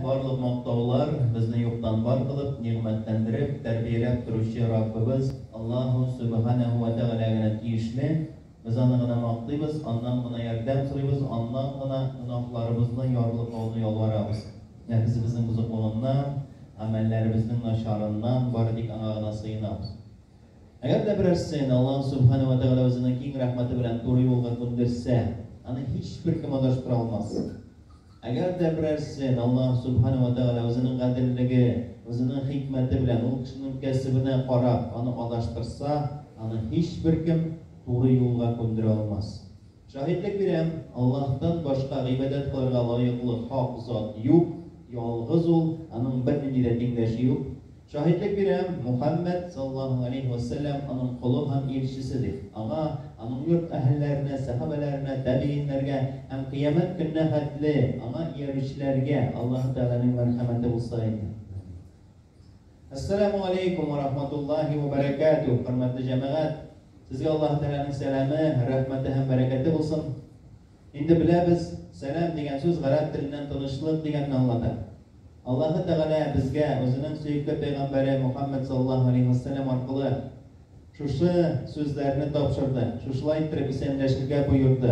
Барлык мактаулар, безне юктан бар кылып, нигъмәтләндереп, тәрбияләп торучы Раббыбыз Аллаһу Сөбеханәһү вә Тәгалә генә тиешле. Без Аны гына мактыйбыз, Аннан гына ярдәм сорыйбыз, Аннан гына гөнаһларыбызны ярлыкауны ялварабыз. Нәфесебезнең бозыклыгыннан, гамәлләребезнең начарыннан бары тик Аңа гына сыенабыз. Әгәр дә берәрсен Аллаһу Сөбеханәһү вә Тәгалә Үзенең киң рәхмәте белән туры юлга күндерсә, аны һичбер кем адаштыра алмас. Әгәр дә берәрсен Аллаһ Сүбхәнә вә Тәгалә Үзенең гаделлеге, Үзенең хикмәте белән ул кешенең кәсебенә карап, аны адаштырса, аны һичберкем туры юлга күндерә алмас. Шаһитлек бирәм, Аллаһтан башка гыйбадәт кылырга лаеклы хак зат юк, ялгыз Ул, Аның бернинди дә тиңдәше юк. Шаһитлек бирәм, Мухәммәд, саллаллаһу галәйһи вә сәлләм, аның колы һәм илчесе дип, аңа, аның йорт әһелләренә, сәхабәләренә, тәбигыйньнәргә һәм кыямәт көненә хәтле аңа иярүчеләргә Аллаһы Тәгаләнең мәрхәмәте булса иде. Амин. Әссәламү галәйкүм вә рахматуллаһи вә бәрәкәтүһ, хөрмәтле җәмәгать! Сезгә Аллаһы Тәгаләнең сәламе, рәхмәте һәм бәрәкәте булсын! Инде беләбез, сәлам дигән сүз гарәп теленнән тынычлык дигәнне аңлата. Аллаһы Тәгалә безгә Үзенең сөекле пәйгамбәре Мухаммәд саллаллаһу алейһи ва сәлләм аркылы шушы сүзләрне тапшырды, шушылай иттереп исәнләшергә боерды,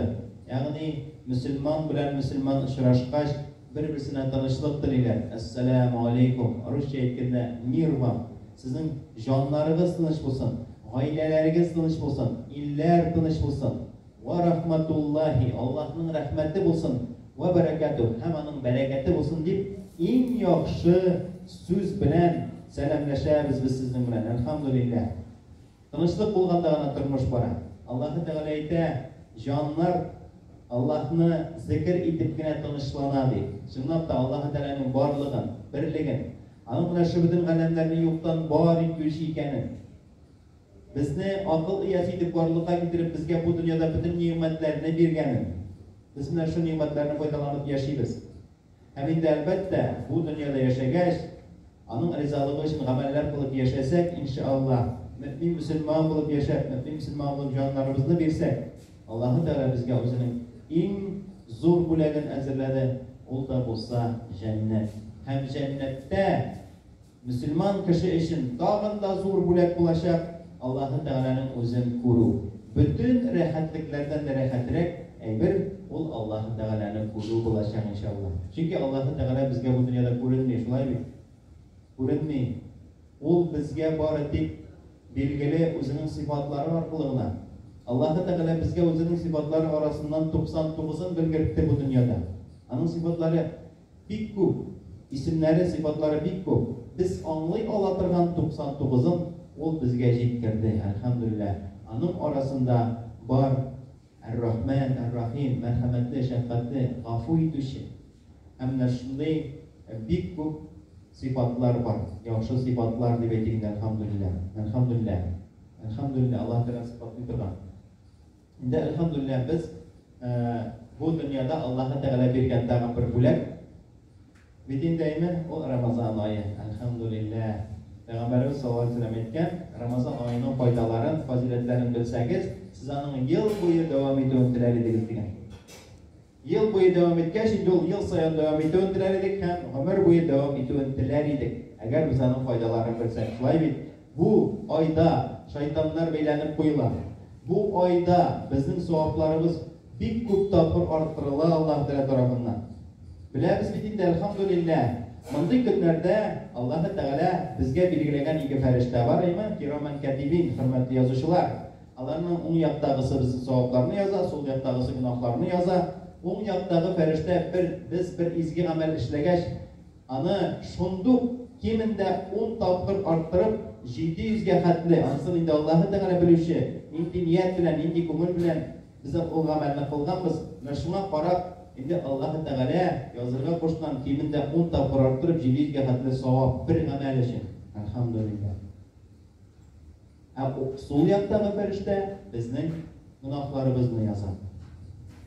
ягъни мөселман белән мөселман очрашкач, бер-берсенә тынычлык телиләр, Әссәләмү алейкум, русча әйткәндә, Мир вам! Сезнең җаннарыгыз тыныч булсын, гаиләләрегез тыныч булсын, илләр тыныч булсын! Вә рахматуллаһи, Аллаһның рәхмәте булсын, вә бәрәкәтүһ, һәм аның бәрәкәте булсын, дип, иң яхшы сүз белән сәламләшәбез без сезнең белән. Әлхәмдүлилләһ. Тынычлык булганда гына тормыш бара. Аллаһы Тәгалә әйтә, Җаннар Аллаһны зекер итеп кенә тынычлана, ди. Чынлап та, Аллаһы Тәгаләнең барлыгын, берлеген, Аның менә шөбетен галәмнәрне юктан бар итүче икәнен, Безне акыл иясе итеп барлыкка китереп, безгә бу дөньяда бөтен нигъмәтләрне биргәнен, без менә шул нигъмәтләрне файдаланып яшибез. Һәм инде, әлбәттә, бу дөньяда яшәгәч, Аның ризалыгы өчен гамәлләр кылып яшәсәк, иншаАллаһ, мөэмин-мөселман булып яшәп, мөэмин-мөселман булып җаннарыбызны бирсәк, Аллаһы Тәгалә безгә Үзенең иң зур бүләген әзерләде, ул да булса, җәннәт. Һәм җәннәттә Мөселман кеше өчен тагын да зур бүләк булачак, Аллаһы Тәгаләнең үзен күрү. Бөтен рәхәтлекләрдән дә рәхәтрәк әйбер ул Аллаһы Тәгаләне күрү булачак, иншалла. Чөнки Аллаһы Тәгалә безгә бу дөньяда күренми, шулай бит? Күренми. Ул безгә бары тик билгеле Үзенең сыйфатлары аркылы гына. Аллаһы Тәгалә безгә Үзенең сыйфатлары арасыннан 99-ын белгертте бу дөньяда. Аның сыйфатлары. Бик күп. Исемнәре, сыйфатлары бик күп. Без аңлый ала торган 99 ын Ул безгә җиткерде, әлхәмдүлилләһ. Аның арасында бар Әр-Рахмән, Әр-Рахим, мәрхәмәтле, шәфкатьле, гафу итүче. Һәм менә шундый бик күп сыйфатлар бар. Яхшы сыйфатлар дип әйтик инде, әлхәмдүлилләһ. Әлхәмдүлилләһ. Әлхәмдүлилләһ, Аллаһы Тәгалә сыйфатлый торган. Инде әлхәмдүлилләһ без бу дөньяда Аллаһы Тәгалә биргән тагын бер бүләк бит инде әйме, ул Рамазан ае, әлхәмдүлилләһ. Пәйгамбәребез саллаллаһу алейһи ва сәлләм әйткән, Рамазан аеның файдаларын, фазыйләтләрен белсәгез, сез аның ел буе дәвам итүен теләр идегез дигән. Ел буе дәвам иткәч, инде ул ел саен дәвам итүен теләр идек һәм гомер буе дәвам итүен теләр идек, әгәр без аның файдаларын белсәк. Шулай бит? Бу айда шайтаннар бәйләнеп куела. Бу айда безнең савапларыбыз бик күп тапкыр арттырыла Аллаһ Тәгалә тарафыннан. Беләбез бит инде, әлхәмдүлилләһ, мондый көннәрдә Аллаһы Тәгалә безгә билгеләгән ике фәрештә бар, иман кирамән кәтибин, хөрмәтле язучылар. Аларның уң яктагысы безнең савапларны яза, сул яктагысы гөнаһларны яза. Уң яктагы фәрештә бер, без бер изге гамәл эшләгәч, аны шундук кимендә ун тапкыр арттырып, 700 гә хәтле, анысын инде Аллаһы Тәгалә белүче, нинди ният белән, нинди күңел белән без ул гамәлне кылганбыз, менә шуңа карап, инде Аллаһы Тәгалә язырга кушкан кимендә ун тапкыр арттырып, 700 гә хәтле савап, бер гамәл өчен. Әлхәмдүлилләһ! Ә сул яктагы фәрештә безнең гөнаһларыбызны яза.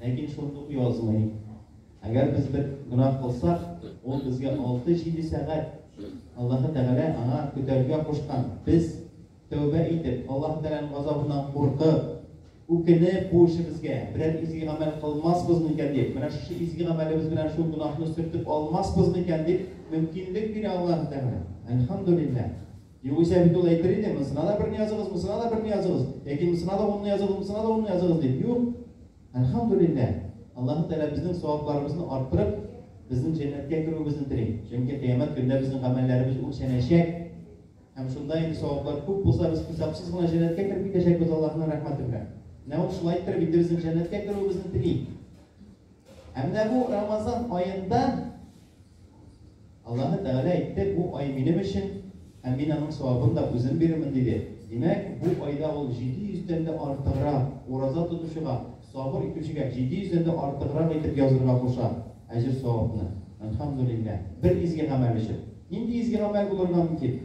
Ләкин шундук язмый. Әгәр без бер гөнаһ кылсак, ул безгә 6-7 сәгать Аллаһы Тәгалә аңа көтәргә кушкан. Без тәүбә итеп, Аллаһы Тәгаләнең газабыннан куркып, үкенеп бу эшебезгә берәр изге гамәл кылмаспыз микән дип, менә шушы изге гамәлебез белән шул гөнаһны сөртеп алмаспыз микән дип мөмкинлек бирә Аллаһы Тәгалә. Әлхәмдүлилләһ! Югыйсә бит ул әйтер иде, монысына да берне языгыз, монысына да берне языгыз, яки монысына да унны языгыз, монысына да унны языгыз дип. Юк! Әлхәмдүлилләһ! Аллаһы Тәгалә безнең савапларыбызны арттырып, безнең җәннәткә керүебезне тели. Чөнки кыямәт көндә безнең гамәлләребез үлчәнәчәк. Һәм шунда инде саваплар күп булса, без хисапсыз гына җәннәткә кереп китәчәкбез Аллаһының рәхмәте белән. Менә ул шулай иттереп инде безнең җәннәткә керүебезне тели. Ә менә бу Рамазан аенда Аллаһы Тәгалә әйтте, Бу ай минем өчен, һәм мин аның савабын да үзем бирермен, диде. Димәк, бу айда ул җиде йөздән дә артыграк ураза тотучыга, сабыр итүчегә җиде йөздән дә артыграк итеп язырга куша әҗер-савапны. Әлхәмдүлилләһ! Бер изге гамәл өчен. Нинди изге гамәл булырга мөмкин?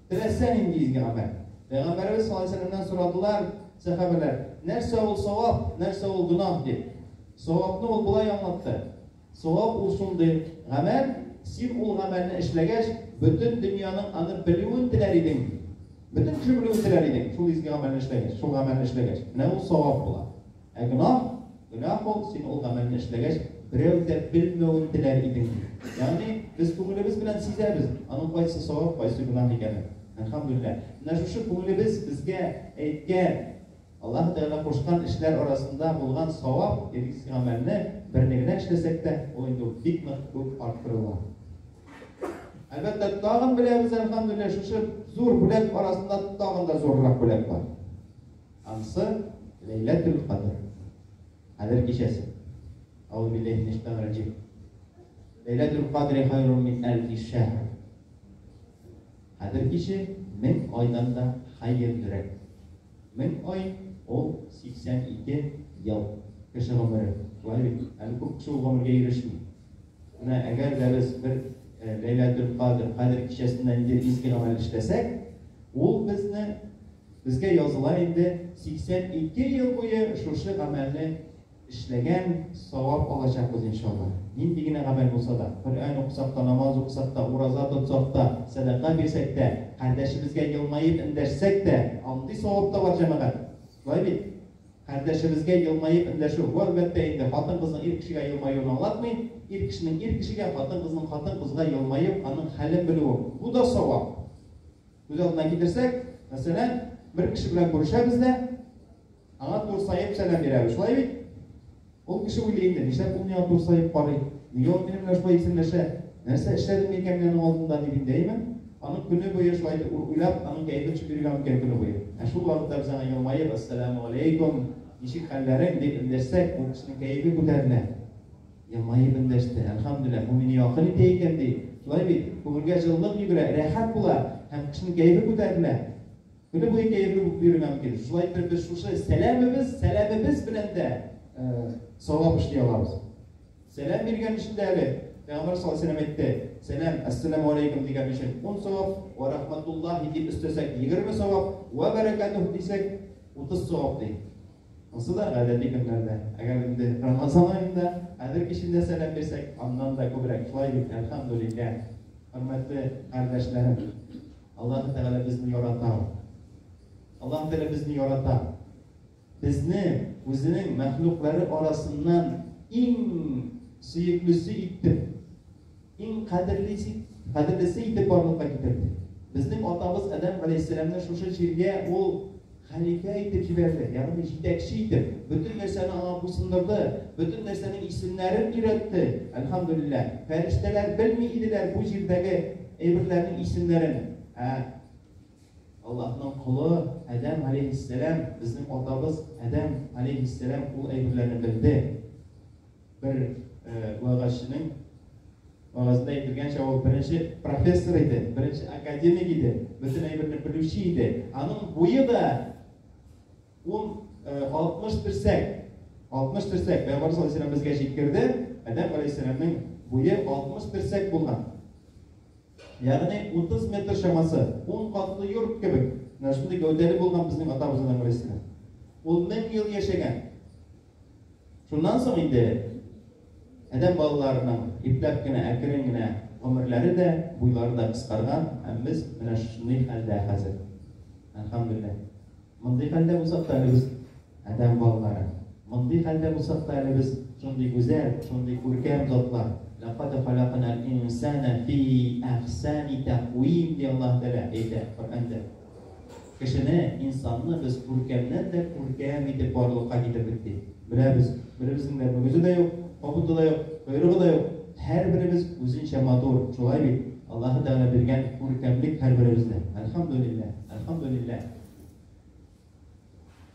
Теләсә нинди изге гамәл. Пәйгамбәребез саллаллаһу алейһи ва сәлләмнән сорадылар сәхабәләр, Нәрсә ул савап, нәрсә ул гөнаһ? дип. Савапны ул болай аңлатты. Савап ул шундый гамәл, син ул гамәлне эшләгәч, бөтен дөньяның аны белүен теләр идең, бөтен кеше белүен теләр идең, шул изге гамәлне эшләгәч, шул гамәлне эшләгәч. Менә ул савап була. Ә гөнаһ, гөнаһ ул, син ул гамәлне эшләгәч, берәү дә белмәвен теләр идең, ди. Ягъни, без күңелебез белән сизәбез, аның кайсы савап, кайсы гөнаһ икәнен. Әлхәмдүлилләһ. Менә шушы күңелебез безгә әйткән Аллаһы Тәгалә кушкан эшләр арасында булган савап, ирлиск гамәлне берне генә эшләсәк тә, ул инде үк бик нык үк арттырыла. Әлбәттә, тагын беләбез, әлхәмдүлилләһ, шушы зур бүләк арасында тагын да зуррак бүләк бар. Ансы Ләйләтүл Кадр. Кадер кичәсе. Аузу биллаһи минәш шайтанир раҗим. Ләйләтүл Кадри хайрун мин әлфи шәһр. Кадер киче мең айдан да хәерлерәк. Мең ай, ул, 82 ел, кеше гомере. Шулай бит? Әле күп кеше ул гомергә ирешми. Менә әгәр дә без бер Ләйләтел-Кадер, Кадер кичәсендә ниндидер изге гамәл эшләсәк, ул безне, безгә языла инде 82 ел буе шушы гамәлне Эшләгән савап алачакбыз иншалла. Нинди генә гамәл булса да, Коръән укысак та, намаз укысак та, ураза тотсак та, сәдака бирсәк тә, кардәшебезгә елмаеп эндәшсәк тә, андый савап та бар, җәмәгать. Шулай бит? Кардәшебезгә елмаеп эндәшү, бу, әлбәттә инде, хатын-кызның ир кешегә елмаюын аңлатмый, ир кешенең ир кешегә, хатын-кызның хатын-кызга елмаеп, аның хәлен белүе, бу да савап. Күз алдына китерсәк, мәсәлән, бер кеше белән күрешәбез дә, Аңа турсаеп сәлам бирәбез, шулай бит? Ул кеше уйлый инде, нишләп ул миңа турсаеп карый? Нигә ул минем белән шулай исәнләшә? Нәрсә эшләдем микән мин аның алдында, дип интәйме? Аның көне буе шулай итеп уйлап, аның кәефе төшеп йөргән микән көне буе? Ә шул вакытта без аңа елмаеп, Әссәләмүгаләйкүм, ничек хәлләрең? дип эндәшсәк, ул кешенең кәефе күтәрелә. Елмаеп эндәште, әлхәмдүлилләһ, бу мине якын итә икән, ди. Шулай бит? Күңелгә җылылык йөгерә, рәхәт була һәм кешенең кәефе күтәрелә. Көне буе кәефе булып йөрергә мөмкин. Шулай итеп без шушы сәламебез, сәламебез белән дә савап эшли алабыз. Сәлам биргән өчен дә әле Пәйгамбәр саллаллаһу алейһи ва сәлләм әйтте, сәлам, ассаламу алейкум дигән өчен 10 савап, ва рахматуллахи дип өстәсәк 20 савап, ва бәрәкәтүһ дисәк 30 савап ди. Ансы да гадәти көннәрдә. Әгәр инде Рамазан аенда хәзер кичендә сәлам бирсәк, аннан да күбрәк. Шулай бит, әлхәмдүлилләһ. Хөрмәтле кардәшләрем. Аллаһы Тәгалә безне ярата ул. Аллаһы Тәгалә безне ярата. Безне үзенең мәхлуклары арасыннан иң сөеклесе итеп, иң кадерлесе, кадерлесе итеп барлыкка китерде. Безнең атабыз Адәм галәйһиссәламне шушы җиргә ул Хәлифә итеп җибәрде, ягъни җитәкче итеп, бөтен нәрсәне аңа буйсындырды, бөтен нәрсәнең исемнәрен өйрәтте. Әлхәмдүлилләһ! Фәрештәләр белми иделәр бу җирдәге әйберләрнең исемнәрен. Ә Аллаһның колы Адәм галәйһиссәлам, безнең атабыз Адәм галәйһиссәлам ул әйберләрне белде. Бер вәгазьченең вәгазендә әйтелгәнчә, ул беренче профессор иде, беренче академик иде, бөтен әйберне белүче иде. Аның буе да ул 60 терсәк, 60 терсәк, Пәйгамбәр саллаллаху алейһи безгә җиткерде, Адәм алейһиссәламның буе 60 терсәк булган. Ягъни 30 метр чамасы, 10 катлы йорт кебек. Менә шундый гәүдәле булган безнең атабыз Адәм алейһиссәлам. Ул 1000 ел яшәгән. Шуннан соң инде адәм балаларының ипләп кенә, әкрен генә гомерләре дә, буйлары да кыскарган, һәм без менә шушындый хәлдә хәзер. Әлхәмдүлилләһ. Мондый хәлдә булсак та әле без адәм балалары. Мондый хәлдә булсак та әле без шундый гүзәл, шундый күркәм затлар. Ләкад халакнал инсана фи әхсәни тәкъвим, ди Аллаһ Тәгалә әйтә Коръәндә. Кешене, инсанны без күркәмнән дә күркәм итеп барлыкка китердек, ди. Беләбез, беребезнең дә мөгезе дә юк, кабыты да юк, койрыгы да юк. Һәрберебез үзенчә матур, шулай бит? Аллаһы Тәгалә биргән күркәмлек һәрберебездә. Әлхәмдүлилләһ, әлхәмдүлилләһ!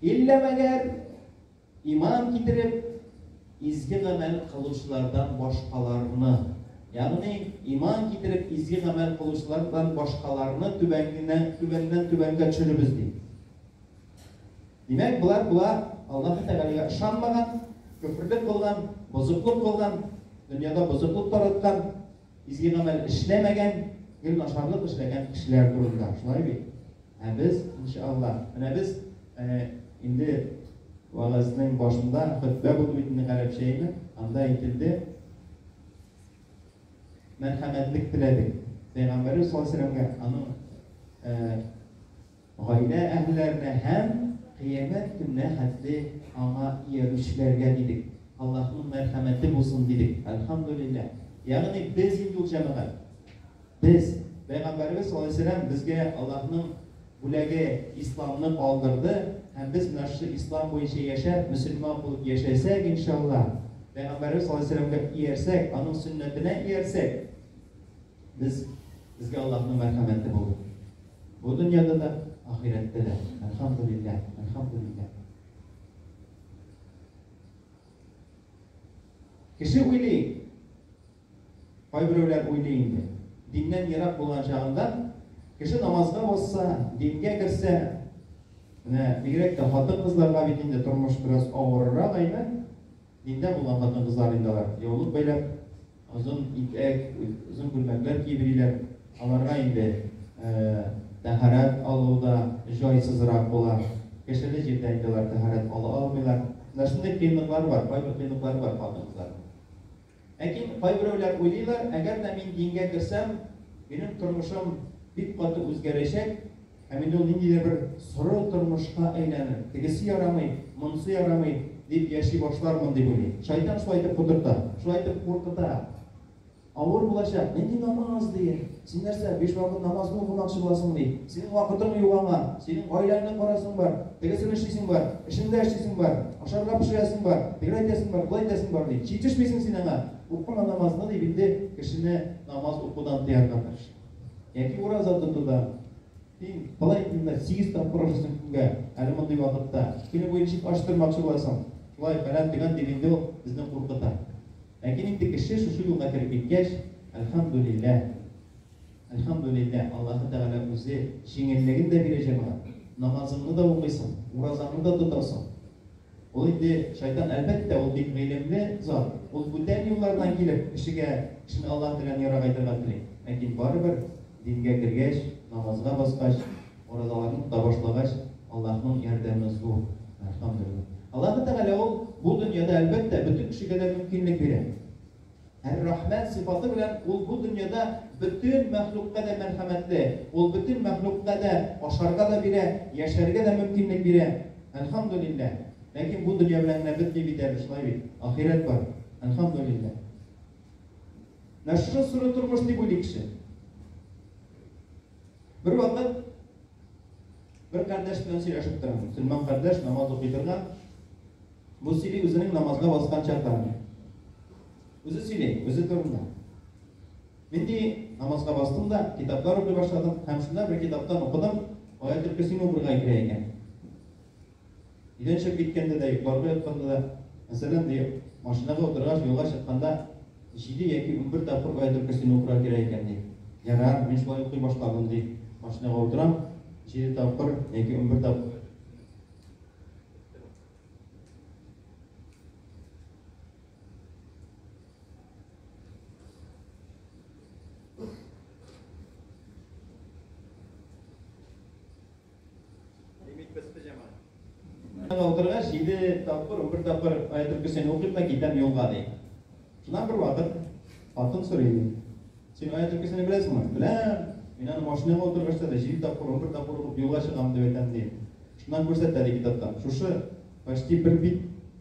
Иллә мәгәр, иман китереп, изге гамәл кылучылардан башкаларны, ягъни иман китереп, изге гамәл кылучылардан башкаларны түбәнгенә, түбәннән түбәнгә төшеребез, ди. Димәк, болар була Аллаһы Тәгаләгә ышанмаган, көферлек кылган, бозыклык кылган, дөньяда бозыклык тараткан, Изге гамәл эшләмәгән, гел начарлык эшләгән кешеләр турында, шулай бит? Ә без, иншааллаһ, менә без э, инде вәгазьнең башында хөтбә булды бит инде гарәпчәйме, анда әйтелде, мәрхәмәтлек теләдек. Пәйгамбәребез саллаллаһу алейһи ва сәлләмгә аның э, Гаилә әгъларына һәм кыямәт көненә хәтле аңа иярүчеләргә дидек, Аллаһның мәрхәмәте булсын дидек, Әлхәмдүлилләһ. Ягъни без инде ул җәмәгать. Без. Пәйгамбәребез саллаллаһу галәйһи ва сәлләм безгә Аллаһның бүләге Исламны калдырды һәм без менә шушы Ислам буенча яшәп, мөселман булып яшәсәк, иншаллаһ, Пәйгамбәребез саллаллаһу галәйһи ва сәлләмгә иярсәк, аның сөннәтенә иярсәк, Без, безгә Аллаһның мәрхәмәте булды. Бу дөньяда да, ахирәттә дә. Әлхәмдүлилләһ, әлхәмдүлилләһ. Кеше уйлый, кайберәүләр уйлый инде. Диннән ерак булган чагында кеше намазга басса, дингә керсә, менә бигрәк тә хатын-кызларга бит инде тормыш бераз авырырак әйме? Диндә булган хатын-кызлар инде алар. Яулык бәйләп, озын итәк, озын күлмәкләр киеп йөриләр. Аларга инде тәһарәт алу да җайсызрак була. Кешеле җирдә инде алар тәһарәт ала алмыйлар. Менә шундый кыенлыклары бар, кайбер кыенлыклары бар хатын-кызларның. Ләкин кайберәүләр уйлыйлар, әгәр дә мин дингә керсәм, минем тормышым бик каты үзгәрәчәк, Ә мин ул нинди дә бер соры тормышка әйләнеп, тегесе ярамый, монысы ярамый, дип яши башлармын дип уйлый. Шайтан шулай итеп котырта, шулай итеп куркыта. Авыр булачак, нинди намаз, ди. Син нәрсә, биш вакыт намазны укымакчы буласың, ди. Синең вакытың юк аңа, синең гаиләңне карасың бар, тегесен эшлисең бар, эшеңдә эшлисең бар, ашарга пешерәсең бар, тегеләй итәсең бар, болай итәсең бар, ди. Җитешмисең син аңа, укыма намазны, дип инде кешене намаз укудан тыярга тырыша. Яки ураза тотуда, син болай итмә, сигез тапкыр ашыйсың көнгә, әле мондый вакытта. Көне буе ничек ач тормакчы буласың? Шулай, фәлән, төгән, дип инде ул безне куркыта. Ләкин инде кеше шушы юлга кереп киткәч, әлхәмдүлилләһ, әлхәмдүлилләһ, Аллаһы Тәгалә үзе җиңеллеген дә бирә, җәмәгать. Намазыңны да укыйсың, уразаңны да тотасың. Ул инде шайтан, әлбәттә, ул бик гыйлемле зат. Ул бүтән юллардан килеп, кешегә, кешене Аллаһ теләгән ярга кайтырга тели. Ләкин барыбер, дингә кергәч, намазга баскач, уразаларны тота башлагач, Аллаһның ярдәме зур, әлхәмдүлиллаһ. Аллаһы Тәгалә ул бу дөньяда, әлбәттә, бөтен кешегә дә мөмкинлек бирә. Әр-Рахмән сыйфаты белән Ул бу дөньяда бөтен мәхлукка дә мәрхәмәтле, Ул бөтен мәхлукка дә ашарга да бирә, яшәргә дә мөмкинлек бирә. Әлхәмдүлилләһ! Ләкин бу дөнья белән генә бетми бит әле, шулай бит? Ахирәт бар. Әлхәмдүлилләһ! Менә шушы соры тормыш дип уйлый кеше. Бер вакыт бер кардәш белән сөйләшеп торам. Мөселман кардәш намаз укый торган. Бу сөйли үзенең намазга баскан чакларын. Үзе сөйли, үзе турында. Мин ди намазга бастым да, китаплар укый башладым. Һәм шунда бер китаптан укыдым, аят өлкәсен укырга кирәк икән. Өйләнешеп киткәндә дә, йокларга ятканда да, мәсәлән, быел, машинага утыргач, юлга чыкканда җиде яки унбер тапкыр аятел көрсине укырга кирәк икән, ди. Ярар, мин шулай укый башладым, ди. Машинага утырам, җиде тапкыр яки унбер тапкыр аятел көрси укыйм. Лимит бетте, Җамал. Аңа утырга җиде тапкыр, унбер тапкыр аятел көсен укыйм да китәм юлга, ди. Шуннан бер вакыт хатын сорый, ди. Син аятел көсене беләсеңме? Беләм. Мин аны машинага утыргачта да җиде тапкыр, унбер тапкыр укып юлга чыгам, дип әйтәм, ди. Шуннан күрсәтә, ди, китаптан. Шушы, почти бер бит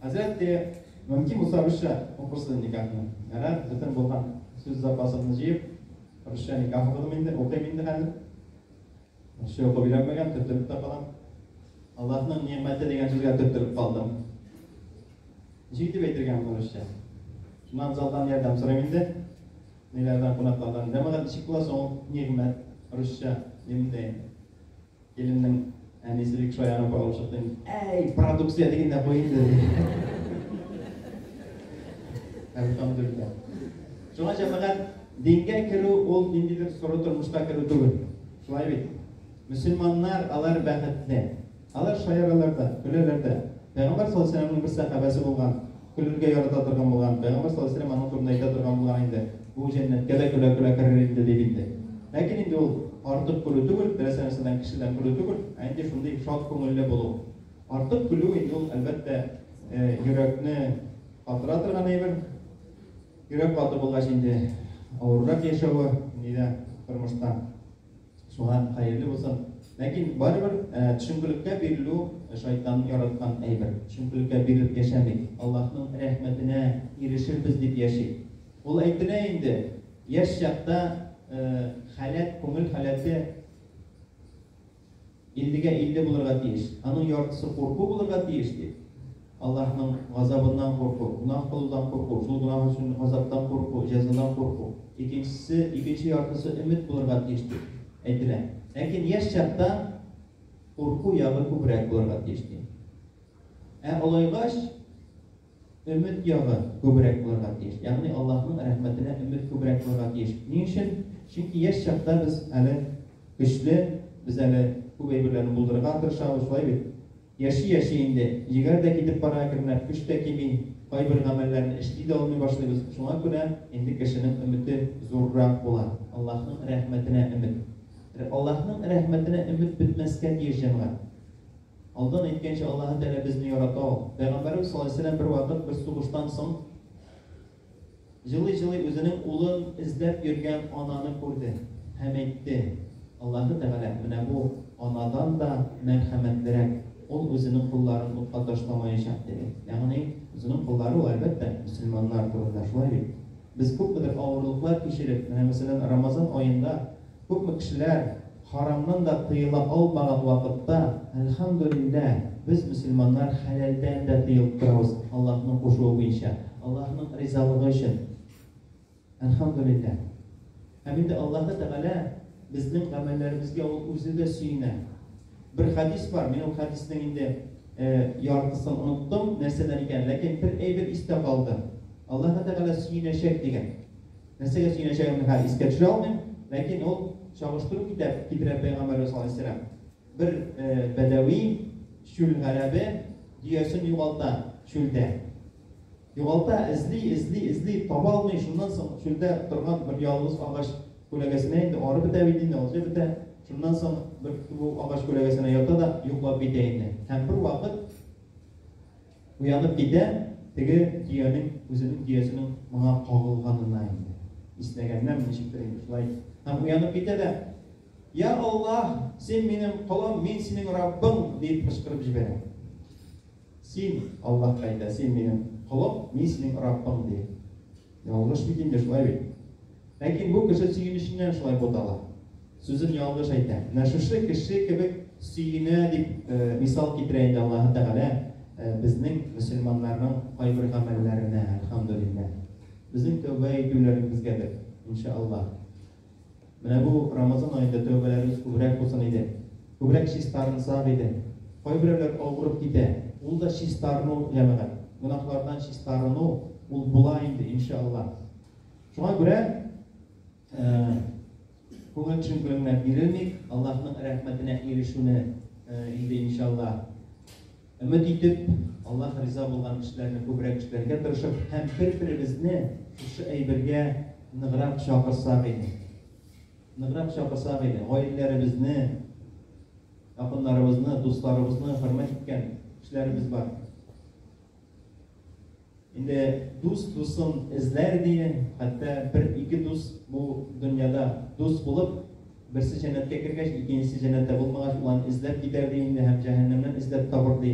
Хәзрәтте, мөмкин булса русча укырсыз никахны. Әнә бөтен булган сүз запасымны җыеп, русча никах укыдым инде, укыйм инде хәзер. Русча укып өйрәнмәгән, төртелеп тә калам. Аллаһның нигъмәте дигән сүзгә төртелеп калдым. Ничек итеп әйтергә моны русча? Шуннан залдан ярдәм сорыйм инде. Ниләрдән кунаклардан. Җәмәгать ничек була соң ул нигъмәт русча? Дим дә инде. Киленнең әнисе бик шаярып барып чыкты. Әй, продукция дигәндә бу инде. Әлхәмдүлилләһ. Шуңа җәмәгать дингә керү ул ниндидер соры тормышка керү түгел. Шулай бит. Мөселманнар алар бәхетле. Алар шаяралар да, көләләр дә. Пәйгамбәр саллаллаһу алейһи ва сәлләмнең бер сәхабәсе булган Көлергә ярата торган булган, пәйгамбәр саллаллаһу галәйһи ва сәлләм аның турында әйтә торган булган инде, Бу җәннәткә дә көлә-көлә керер инде, дип инде. Ләкин инде ул артык көлү түгел, теләсә нәрсәдән кешедән көлү түгел, ә инде шундый шат күңелле булу. Артык көлү инде ул, әлбәттә, йөрәкне катыра торган әйбер. Йөрәк каты булгач инде авыррак яшәве, нидә тормышта. Суган хәерле булсын. Ләкин барыбер төшенкелеккә бирелү шайтанның яраткан әйбер. Төшенкелеккә бирелеп яшәмик. Аллаһның рәхмәтенә ирешербез дип яшик. Ул әйтелә инде, яшь чакта халәт, күңел халәте, Иллегә илле булырга тиеш, аның яртысы курку булырга тиеш, дип. Аллаһның газабыннан курку, гөнаһ кылудан курку, шул гөнаһ өчен газаптан курку, җәзадан курку. Икенчесе, икенче яртысы өмет булырга тиеш, дип әйтелә. Ләкин яшь чакта курку ягы күбрәк булырга тиеш, ди. Ә олайгач. Өмет ягы күбрәк булырга тиеш. Ягъни Аллаһның рәхмәтенә өмет күбрәк булырга тиеш. Ни өчен? Чөнки яшь чакта без әле көчле, без әле күп әйберләрне булдырырга тырышабыз, шулай бит? Яши-яши инде, җегәр дә китеп бара әкренләп, көч тә кими, кайбер гамәлләрне эшли дә алмый башлыйбыз. Шуңа күрә инде кешенең өмете зуррак була. Аллаһның рәхмәтенә өмет. Аллаһның рәхмәтенә өмет бетмәскә тиеш, җәмәгать. Алдан әйткәнчә, Аллаһы Тәгалә безне ярата ул. Пәйгамбәребез саллаллаһу галәйһи ва сәлләм бервакыт бер сугыштан соң җылый-җылый үзенең улын эзләп йөргән ананы күрде һәм әйтте, Аллаһы Тәгалә менә бу анадан да мәрхәмәтлерәк, ул үзенең кулларын утка ташламаячак, диде. Ягъни, үзенең куллары ул, әлбәттә, мөселманнар турында, шулай бит? Без күпмедер авырлыклар кичереп, менә, мәсәлән, Рамазан аенда Күпме кешеләр харамнан да тыела алмаган вакытта, әлхәмдүлилләһ, без, мөселманнар, хәләлдән дә тыелып торабыз, Аллаһның кушуы буенча, Аллаһның ризалыгы өчен. Әлхәмдүлилләһ. Һәм инде Аллаһы Тәгалә безнең гамәлләребезгә Ул Үзе дә сөенә. Бер хәдис бар, мин ул хәдиснең инде яртысын оныттым, нәрсәдән икәнен, ләкин бер әйбер истә калды. Аллаһы Тәгалә сөенәчәк дигән. Нәрсәгә сөенәчәгемне хәзер искә төшерә алмыйм, ләкин ул чагыштыру китәп китерә пәйгамбәребез алейһиссәлам. Бер бәдәви, чүл гарәбе дөясен югалта чүлдә. Югалта, эзли, эзли, эзли, таба алмый, шуннан соң чүлдә торган бер ялгыз агач күләгәсенә инде арып бетә бит инде, алҗып бетә. Шуннан соң бер бу агач күләгәсенә ята да йоклап китә инде. Һәм бер вакыт Уянып китә, теге дөянең үзенең дөясенең моңа кагылганына инде иснәгәннәме, ничектер инде шулай, һәм уянып китә дә, Я Аллаһ, син минем колым, мин синең Раббың, диеп кычкырып җибәрә. Син, Аллаһка әйтә, син минем колым, мин синең Раббың, ди. Ялгыш бит инде, шулай бит? Ләкин бу кеше сөенеченнән шулай бутала. Сүзен ялгыш әйтә. Менә шушы кеше кебек сөенә дип мисал китерә инде Аллаһы Тәгалә безнең мөселманнарның кайбер гамәлләренә, әлхәмдүлилләһ. Безнең тәүбә итүләребезгәдер, иншааллаһ. Менә бу Рамазан аенда тәүбәләребез күбрәк булсын иде. Күбрәк чистарынсак иде. Кайберәүләр авырып китә. Ул да чистарыну, җәмәгать. Гөнаһлардан чистарыну, ул була инде, иншаАлла. Шуңа күрә, күңел төшенкелегенә бирелмик, Аллаһның рәхмәтенә ирешүне инде, иншаАлла. Өмет итеп, Аллаһ риза булган эшләрне күбрәк эшләргә тырышып һәм бер-беребезне шушы әйбергә ныграк чакырсак иде. Ныграк чакырсак иде. Гаиләләребезне, якыннарыбызны, дусларыбызны хөрмәт иткән кешеләребез бар. Инде дус дусын эзләр дие, хәтта бер ике дус бу дөньяда дус булып, берсе җәннәткә кергәч, икенчесе җәннәттә булмагач, ул аны эзләп китәр ди инде һәм җәһәннәмнән эзләп табыр ди.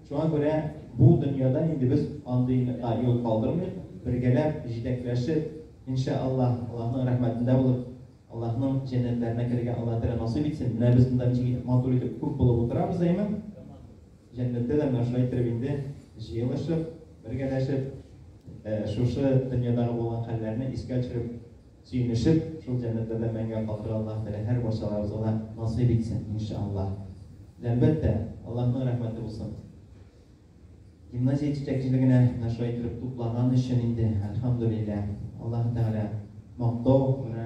Шуңа күрә бу дөньяда инде без андыйга юл калдырмыйк, бергәләп, җитәкләшеп, иншә Аллаһ, Аллаһның рәхмәтендә булып, Аллаһның җәннәтләренә керергә Аллаһ Тәгалә насыйп итсен. Менә без монда ничек итеп матур итеп күп булып утырабыз, әйеме? Җәннәттә дә менә шулай иттереп инде җыелышып, бергәләшеп, шушы дөньядагы булган хәлләрне искә төшереп, сөенешеп, шул җәннәтләрдә мәңге калырга Аллаһ Тәгалә һәр барчаларыбызга да насыйп итсен, иншаАллаһ. Әлбәттә, Аллаһның рәхмәте булсын. Гимназия җитәкчелегенә менә шулай иттереп туплаган өчен инде, әлхәмдүлилләһ, Аллаһ Тәгалә мактау гына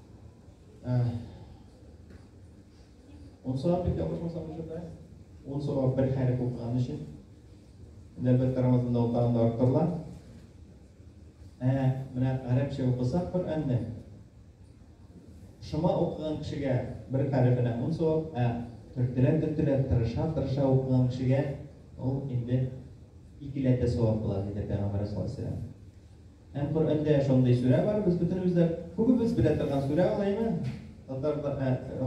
Э, он сорап бит ялгышмасам ошонда. Он сорап бер хәреф укыган өчен. Нәбәт карамасында ул тагын да арттырыла. Ә, менә гарәпчә укысак Коръәнне. Шома укыган кешегә бер хәрефенә он сорап, ә төртелә төртелә тырыша тырыша укыган кешегә ул инде икеләтә сорап була, диде Пәйгамбәр саллаллаху алейһи ва сәлләм. Һәм Коръәндә шундый сүрә бар, без бөтенебез дә күбебез белә торган сүрә ул әйме? Татар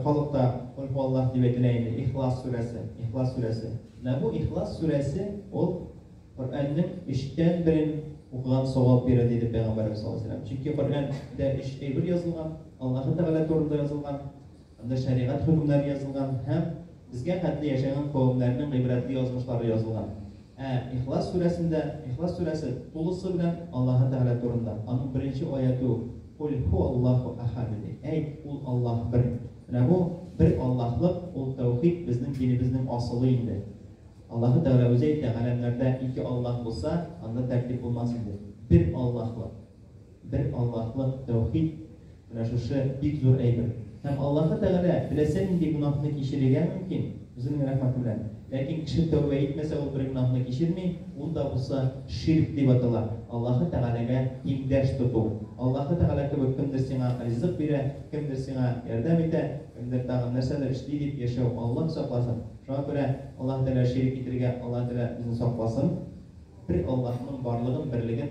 халыкта Кульһуаллаһ дип әйтелә инде, Ихлас сүрәсе, Ихлас сүрәсе. Менә бу Ихлас сүрәсе ул Коръәннең өчтән берен укыган савап бирә диде Пәйгамбәребез саллаллаһу алейһи ва сәлләм. Чөнки Коръәндә өч әйбер язылган, Аллаһы Тәгалә турында язылган, Анда шәригать хөкемнәре язылган һәм безгә хәтле яшәгән кавемнәрнең гыйбрәтле язмышлары язылган. Ә Ихлас сүрәсендә, Ихлас сүрәсе тулысы белән Аллаһы Тәгалә турында. Аның беренче аяте үк, Куль һуаллаһу әхәд, диде. Әйт, ул Аллаһ бер. Менә бу бер Аллаһлык, ул тәүхид безнең динебезнең асылы инде. Аллаһы Тәгалә үзе әйтә, Галәмнәрдә ике Аллаһ булса, анда тәртип булмас иде. Бер Аллаһлык. Бер Аллаһлык, тәүхид, менә шушы бик зур әйбер. Һәм Аллаһы Тәгалә теләсә нинди гөнаһны кичерергә мөмкин, Үзенең рәхмәте белән. Ләкин кеше тәүбә итмәсә, ул бер гөнаһны кичерми, ул да булса ширк дип атала, Аллаһы Тәгаләгә тиңдәш тоту. Аллаһы Тәгалә кебек кемдер сиңа ризык бирә, кемдер сиңа ярдәм итә, кемдер тагын нәрсәдер эшли дип яшәү, Аллаһ сакласын. Шуңа күрә Аллаһы Тәгалә ширк итәргә Аллаһы Тәгалә безне сакласын. Бер Аллаһның барлыгын, берлеген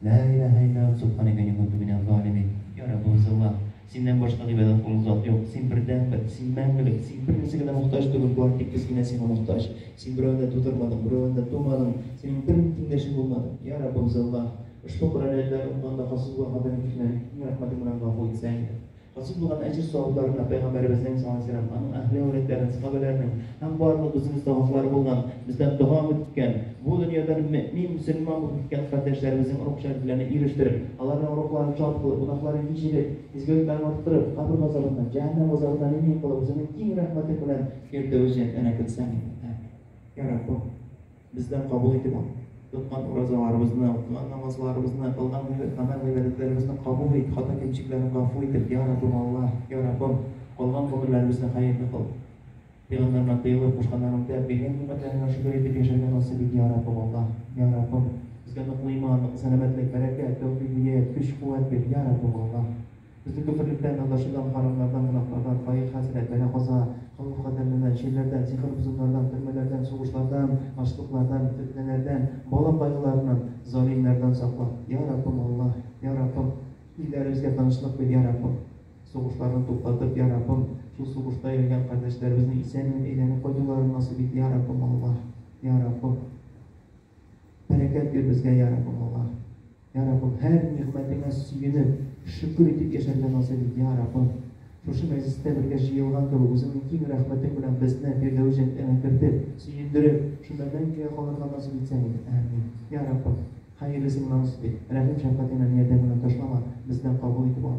Лә иләһә иллаллаһ субханәкә мин кунту минәз залимин Йа Раббыбыз Аллаһ, Синнән башка гыйбадәт кылырлык зат юк, Син бердәнбер, Син мәңгелек, Син бернәрсәгә дә мохтаҗ түгел, бары тик без генә Сиңа мохтаҗ. Син берәүне дә тудырмадың, берәүдән дә тумадың, Синең бер генә тиңдәшең булмады. Йа Раббыбыз Аллаһ, ошбу Коръән аятьләрен укыганда хасил булган хата-нигезләрне Синең рәхмәтең белән гафу итсәң иде. Насыйп булган әҗер савапларына Пәйгамбәребезнең, саллаллаһу галәйһи ва сәлләм, аның әһле-әүләдләренең, сахабәләренең һәм барлык үзенең саваплары булган, бездән дога үтеп киткән, бу дөньядан мөэмин, мөселман булып киткән кардәшләребезнең рух-шәрәфләренә ирештереп, аларның рухларын шат кылып, гөнаһларын кичереп, изгелекләрен арттырып, кабер газабыннан, җәһәннәм газабыннан имин кылып, үзеңнең киң рәхмәтең белән йөртү өчен энекетсен иде. Амин. Йә Раббым! Бездән кабул итеп тоткан уразаларыбызны, укыган намазларыбызны, кылган гамәл-гыйбадәтләребезне кабул ит, хата-кимчекләрне гафу итеп, Йа Раббым Аллаһ, Йа Раббым, калган гомерләребезне хәерле кыл. Пәйгамбәреңә тыелып, кушканнарыңда, биргән нигъмәтләреңә шөкер итеп яшәргә насыйп ит, Йа Раббым Аллаһ, Йа Раббым, безгә ныклы иман, ныклы сәламәтлек, бәрәкәт, тәүфигъ-һидәят, көч-куәт бир, Йа Раббым Аллаһ. Безнең күперлектән, адашудан, харамнардан, гөнаһлардан, фаехәсенә, бәла-каза, хавыф-хәтәрленнән, чирләрдән, сихер-бозымнардан, төрмәләрдән, сугышлардан, ачлыклардан, фетнәләрдән, бала кайгыларыннан, залимнәрдән сакла, йа Раббым Аллаһ! Йа Раббым! Илләребезгә тынычлык бир, йа Раббым! Сугышларны туктатып, йа Раббым, шул сугышта үлгән кардәшләребезнең исән-имин әйләнеп кайтуларын насыйп ит, йа Раббым Аллаһ! Йа Раббым! Бәрәкәт бир безгә, йа Раббым Аллаһ! Йа Раббым, һәр нигъмәтеңә сөенеп, шөкер итеп яшәргә насыйп ит, йа Раббым! Шушы мәҗлестә бергә җыелган кебек, үзеңнең киң рәхмәтең белән безне Фирдәвес җәннәтеңә кертеп, сөендереп, шунда мәңгегә калырга насыйп итсәң иде. Әәмин. Йа Раббым, хәерлесен насыйп ит, рәхим-шәфкатеңнән, ярдәмеңнән ташлама, бездән кабул итеп ал.